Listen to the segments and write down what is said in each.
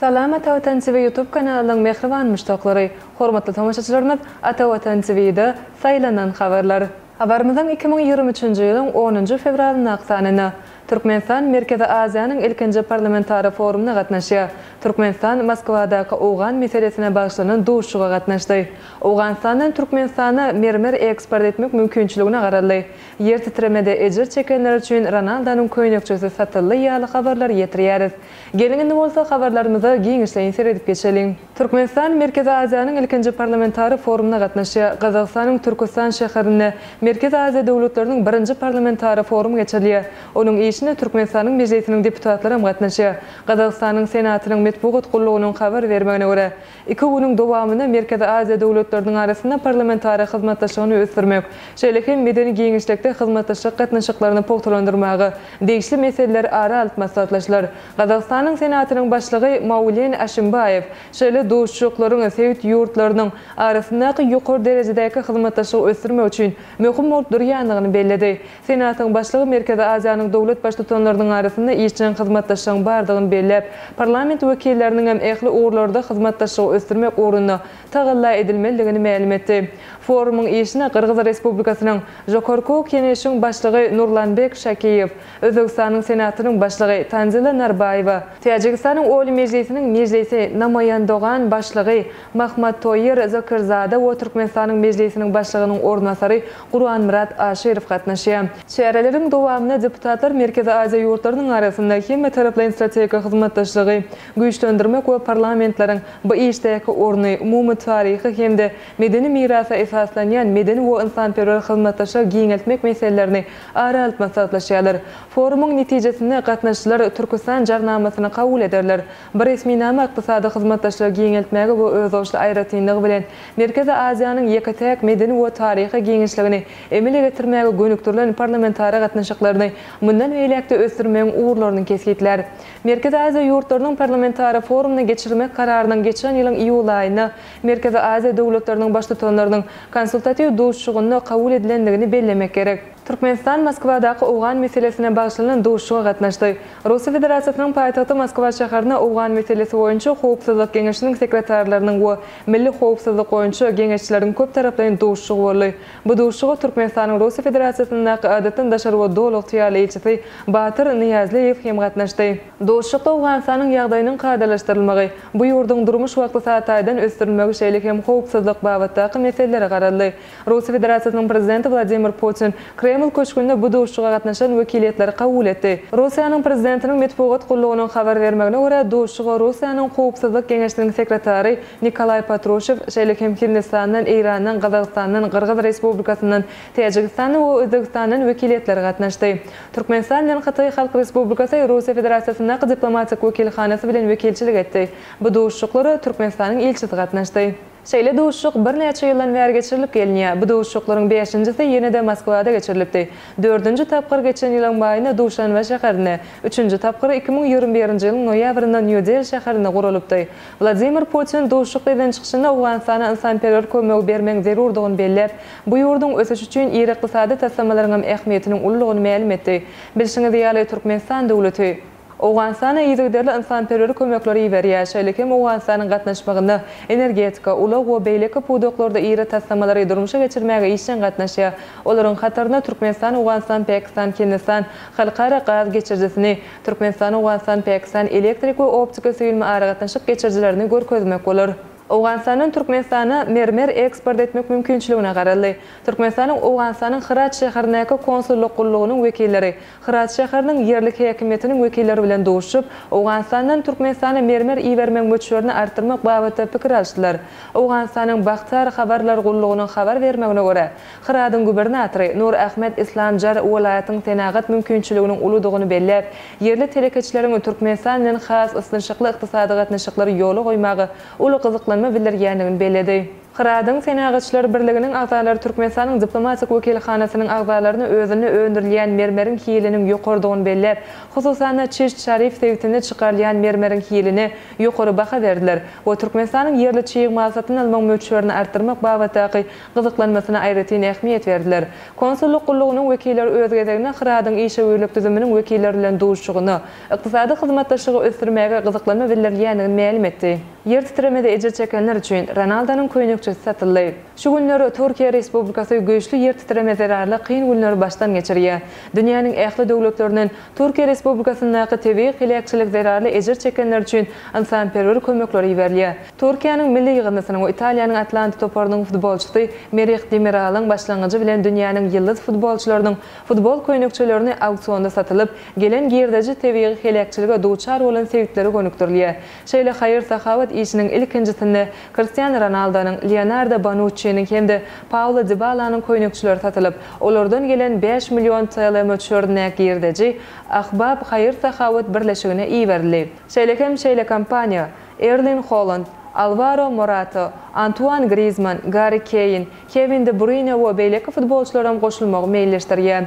Salam Ata Watan TV YouTube kanalynyň mähriban muşdaklary, hormatly tomaşaçylarymyz Ata Watan TVda Saýlanan habarlar. Habarymyzyň iki müň ýigrimi üçünji ýylyň onunjy fewralyndaky sanynda, Türkmenistan Merkezi Aziýanyň ilkinji parlamentara forumyna gatnaşýar. Türkmenistan Moskwadaky owgan meselesine bagyşlanan duşuşyga gatnaşdy. Owganystandan Türkmenistana mermer eksport etmek mümkinçiligine garaldy. Ýer titremede ejir çekenler üçin Ronaldonyň köýnekçesi satyldy ýaly habarlary ýetirýäris. Geliň indi bolsa habarlarymyza giňişleýin seredip geçeliň. Türkmenistan Merkezi Aziýanyň ilkinji parlamentary forumyna gatnaşýar. Gazagystanyň Türküstan şäherinde Merkezi Aziýa döwletleriniň birinji parlamentary forumy geçirilýär. Onuň işine Türkmenistanyň Mejlisiniň deputatlary hem gatnaşýar. Gazagystanyň Senatynyň metbugat gullugynyň habar bermegine görä, Iki günüň dowamynda Merkezi Aziýa döwletleriniň arasynda parlamentara hyzmatdaşlygyny ösdürmek, şeýle hem medeni giňişlikde hyzmatdaşlyk gatnaşyklaryny pugtalandyrmaga degişli meseleler ara alyp maslahatlaşylar. Gazagystanyň Senatynyň Başlygy Maulen Aşimbaýew şeýle duşuşyklaryň sebit ýurtlarynyň arasyndaky ýokary derejedäki hyzmatdaşlygy ösdürmek üçin möhüm bolup durýandygyny belledi. Senatyň Başlygy Merkezi Aziýanyň döwlet Baştutanlarynyň arasynda işjeň hyzmatdaşlygyň bardygyny belläp, parlament wekilleriniň hem ähli ugurlarda hyzmatdaşlygy ösdürmek ugrunda tagalla edilmelidigini mälim etdi. Forumyň işine Gyrgyz Respublikasynyň Žokorky ok Keneşiň Başlygy Nurlanbek Şakiýew, Özbegistanyň Senatynyň Başlygy Tanzila Narbaýewa, Täjigistanyň Oliý Mejlisiniň Mejlisi Namaýandogan Başlygy Mahmadtoýir Zokirzada we Türkmenistanyň Mejlisiniň Başlygynyň orunbasary Gurbanmyrat Aşyrow gatnaşýar. Çäreleriň dowamynda deputatlar Merkezi Aziýa ýurtlarynyň arasynda hemmetaraplaýyn strategik hyzmatdaşlygy güýçlendirmek we parlamentleriň bu işdäki orny, umumy taryhy hem-de medeni mirasa esaslanýan medeni we ynsanperwer hyzmatdaşlygy giňeltmek meselelerini ara alyp maslahatlaşýarlar. Forumyň netijesinde gatnaşyjylar Türkistan jarnamasyny kabul ederler. Bu resminama ykdysady hyzmatdaşlygy giňeltmäge we özboluşly aýratynlygy bilen Merkezi Aziýanyň ýeke-täk medeni we taryhy giňişligini emele getirmäge gönükdirilen parlamentara gatnaşyklaryny mundan beýläk-de ösdürmegiň ugurlaryny kesgitlär. Merkezi Aziýa ýurtlarynyň parlamentara forumyny geçirmek kararynyň geçen ýylyň iýul aýynda Merkezi Aziýa döwletleriniň Baştutanlarynyň Konsultatiw duşuşygynda kabul edilendigini bellemek gerek. Türkmenistan Moskwadaky owgan meselesine bagyşlanan duşuşyga gatnaşdy. Russiýa Federasiýasynyň paýtagty Moskwa şäherine Owgan meselesi boýunça Howpsuzlyk geňeşiniň sekretarlarynyň we Milli howpsuzlyk boýunça geňeşçileriň köptaraplaýyn duşuşygy boldy. Bu duşuşyga Türkmenistanyň Russiýa Federasiýasyndaky Adatdan daşary we Doly ygtyýarly ilçisi Batyr Nyýazlyýew hem gatnaşdy. Duşuşykda Owganystanyň ýagdaýynyň kadalaşdyrylmagy, bu ýurduň durmuş we ykdysady taýdan ösdürilmegi şeýle hem howpsuzlyk babatdaky meselelere garaldy. Russiýa Federasiýasynyň Prezidenti Wladimir Putin Kreml köşgünde bu duşuşyga gatnaşan wekiliýetleri kabul etdi. Russiýanyň Prezidentiniň metbugat gullugynyň habar bermegine görä, duşuşyga Russiýanyň Howpsuzlyk geňeşiniň sekretary Nikolaý Patruşew, şeýle hem Hindistandan, Eýrandan, Gazagystandan, Gyrgyz Respublikasyndan, Täjigistandan we Özbegistandan wekiliýetler gatnaşdy. Türkmenistan bilen Hytaý Halk Respublikasy Russiýa Federasiýasyndaky diplomatik wekilhanasy bilen wekilçilik etdi. Bu duşuşyklara Türkmenistanyň ilçisi gatnaşdy. Şeýle duşuşyk birnäçe ýyldan bäri geçirilip gelinýär. Bu duşuşyklaryň bäşinjisi ýene-de Moskwada geçirilipdi. Dördünji tapgyr geçen ýylyň maýynda Duşanbe şäherinde, üçünji tapgyr iki müň ýigrimi birinji ýylyň noýabrynda Nýu-Deli şäherinde guralypdy. Wladimir Putin duşuşyk eden çykyşynda Owganystana ynsanperwer kömegi bermegiň zerurdygyny belläp, bu ýurduň ösüşi üçin iri ykdysady taslamalaryňam ähmiýetiniň uludygyny mälim etdi. Bilşiňiz ýaly, Türkmenistan döwleti. Owganystana yzygiderli ynsanperwer kömekleri iberýär, şeýle hem Owganystanyň gatnaşmagynda energetika, ulag we beýleki pudaklarda iri taslamalary durmuşa geçirmäge işjeň gatnaşýar. Olaryň hatarynda Türkmenistan, Owganystan, Pakistan, Hindistan halkara gaz geçirijisini, Türkmenistan, Owganystan, Pakistan elektrik we optika süýnme aragatnaşyk geçirijilerini görkezmek bolar. Owganystandan Türkmenistana mermer eksport etmek mümkinçiligine garaldy. Türkmenistanyň Owganystanyň Hyrat şäherindäki konsullyk gullugynyň wekilleri, Hyrat şäheriniň ýerlik häkimiýetiniň wekilleri bilen duşup, Owganystandan Türkmenistana mermer ibermegiň möçberini artdyrmak babatda pikir alyşdylar. Owganystanyň Bakhtiar habarlar gullugynyň habar bermegine görä, Hyradyň gubernatory Nur Ahmed Islam Jar welaýatyň senagat mümkinçiliginiň uludygyny belläp, ýerli telekeçileriň Türkmenistan bilen has ysnyşykly ykdysady gatnaşyklary ýola goýmaga uly gyzyklanma bildirýändigini belledi. Hyradyň Senagaçlar birliginiň agzalary Türkmenistanyň diplomatik wekilhanasynyň agzalaryna özünde öndürilýän mermeriň hiliniň ýokarydygyny belläp, hususan-da, Çişt Şarif sebitinde çykarylýan mermeriň hiline ýokary baha berdiler we Türkmenistanyň ýerli çig mal satyn almagyň möçberini artdyrmak babatdaky gyzyklanmasyna aýratyn ähmiýet berdiler. Konsullyk gullugynyň wekilleri öz gezeginde Hyradyň işewürlik düzüminiň wekilleri bilen duşuşygynda ykdysady hyzmatdaşlygy ösdürmäge gyzyklanma bildirilýändigini mälim etdi. Ýer titremede ejir çekenler üçin Ronaldonyň köýnekçesi satyldy. Şu günler Türkiýe Respublikasy güýçli ýer titreme zerarly kyn günleri başdan geçirýär. Dünýäniň ähli döwletlerinden Türkiýe Respublikasyndaky tebigy heläkçilik zerarly ejir çekenler üçin ynsanperwer kömekleri iberilýär. Türkiýäniň milli ýygyndysynyň we Italiýanyň Atlanta toparynyň futbolçysy Merih Demiralyň başlangyjy bilen dünýäniň ýyldyz futbolçylarynyň futbol köýnekçelerini auksionda satylyp, gelen girdeji tebigy heläkçilige duçar bolan sebitlere gönükdirilýär. Şeýle haýyr-sahawat işiniň ilkinjisinde Kristiano Ronaldonyň, Leonardo Bonuççiniň hem-de Paulo Dibalanyň köýnekçileri satylyp, olardan gelen bäş million TL möçberindäki girdeji Ahbab haýyr-sahawat birleşigine iberildi. Şeýle hem şeýle kompaniýa Erling Holand, Alwaro Morata, Antuan Grizmann, Garri Keýn, Kewin De Bruýne we beýleki futbolçylaram goşulmagy meýilleşdirýär.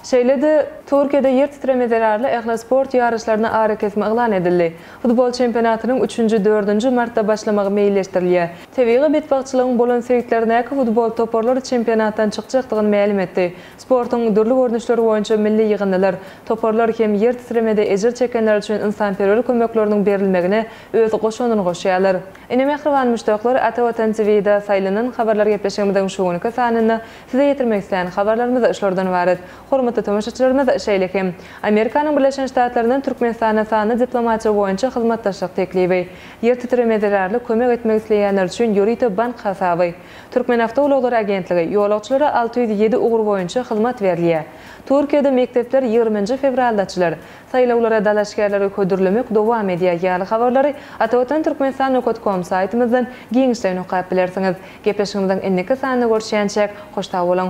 Şeýle-de, Türkiýede ýer titreme zerarly ähli sport ýaryşlaryna arakesme yglan edildi. Futbol çempionatynyň üçünji, dördünji martda başlamagy meýilleşdirilýär. Tebigy betbagtçylygyň bolan sebitlerindäki futbol toparlary çempionatdan çykjakdygyny mälim etdi. Sportuň dürli görnüşleri boýunça milli ýygyndylar, toparlar hem ýer titremede ejir çekenler üçin ynsanperwer kömekleriniň berilmegine öz goşandyny goşýarlar. Ine mähriban muşdaklar, Ata Watan TVda saýlanan habarlar gepleşigimiziň şu günki sanynda size ýetirmek islän habarlarymyz şulardan ybarat. Hormatly tomaşaçylarymyz, şeýle hem, Amerikanyň Birleşen Ştatlaryndan Türkmenistana sanly diplomatiýa boýunça hyzmatdaşlyk teklibi, ýer titremä zerarly kömek etmek isleýänler üçin ýörite bank hasaby, Türkmenawtoulaglary agentligi, ýolagçylara alty ýüz ýedi ugur boýunça hyzmat berilýär. Türkiýede mekdepler ýigrminji fewralda açylar. Saýlawlara dalaşgärleri hödürlemek dowam edýär ýaly habarlary Atavatan Türkmenistan Nokat Kom saýtymyzdan giňişleýin okap bilersiňiz. Gepleşigimiziň indiki sanynda görüşýänçäk, hoş sag boluň!